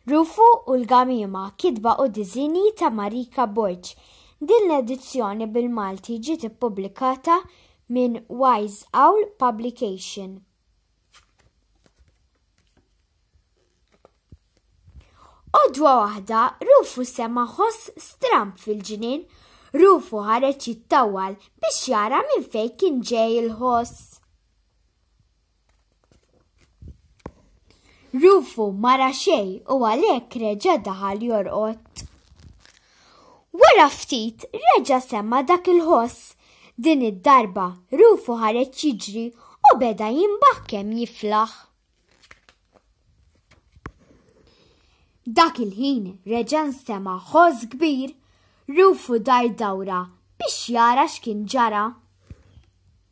Rufu u l-Gamiema, kitba u diżinji ta' Marika Borg. Din l-edizzjoni bil-Malti ġiet ippubblikata minn Wise Owl Publication. Għodwa waħda, Rufu sema ħoss stramp fil-ġnien. Rufu ħareġ jittawwal biex jara minn fejn kien ġej il-ħoss. Rufu mara xej u għalhekk reġa' daħal jorqod. Wara ftit reġa' semma dak il-ħoss. Din id-darba Rufu ħareġ jiġri u beda jimbaħ kemm jiflaħ. Dak il-ħin reġa' nsema' ħoss kbir. Rufu dar dawra biex jara x'kien ġara.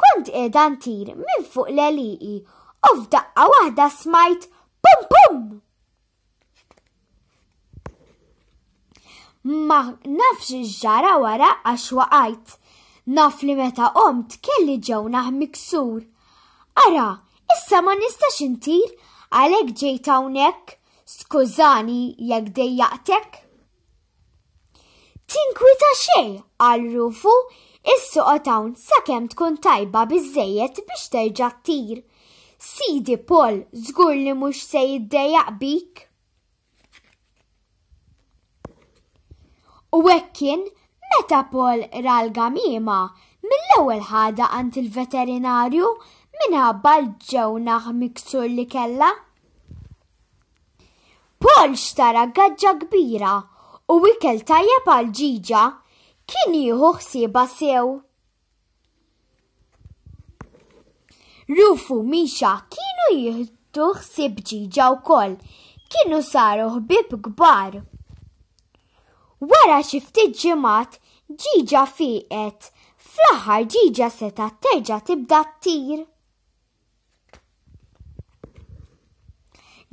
Kont qiegħda ntir minn fuq l-għelieqi u f'daqqa waħda smajt pum pum! Ma nafx ġara wara għax waqajt. Naf li meta qomt kelli ġewnaħ miksur. Ara, issa ma nistax intir għalhekk ġejt hawnhekk. Skużani jekk dejjaqtek. Tinkwita xejn, qal Rufu, issoqgħod hawn sakemm tkun tajba biżżejjed biex terġa' ttir. Sidi Paul żgur li mhux se jiddejjaq bik. U hekk kien meta Paul ra l-gamiema mill-ewwel ħada għand il-veterinarju minħabba l-ġewnaħ miksur li kellha. Paul xtara gaġġa kbira u ikel tajjeb għal ġiġa kien jieħu ħsieba sew. Rufu Misha kienu jieħdu ħsieb ġiġa wkoll, kienu saru ħbib kbar. Wara xi ftit ġimgħat ġiġa fieqet, fl-aħħar ġiġa seta' terġa' tibda ttir.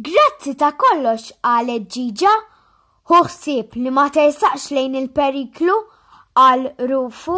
Grazzi ta' kollox għalet ġiġa, ħuħsib li ma tersaqx lejn il-periklu għal rufu.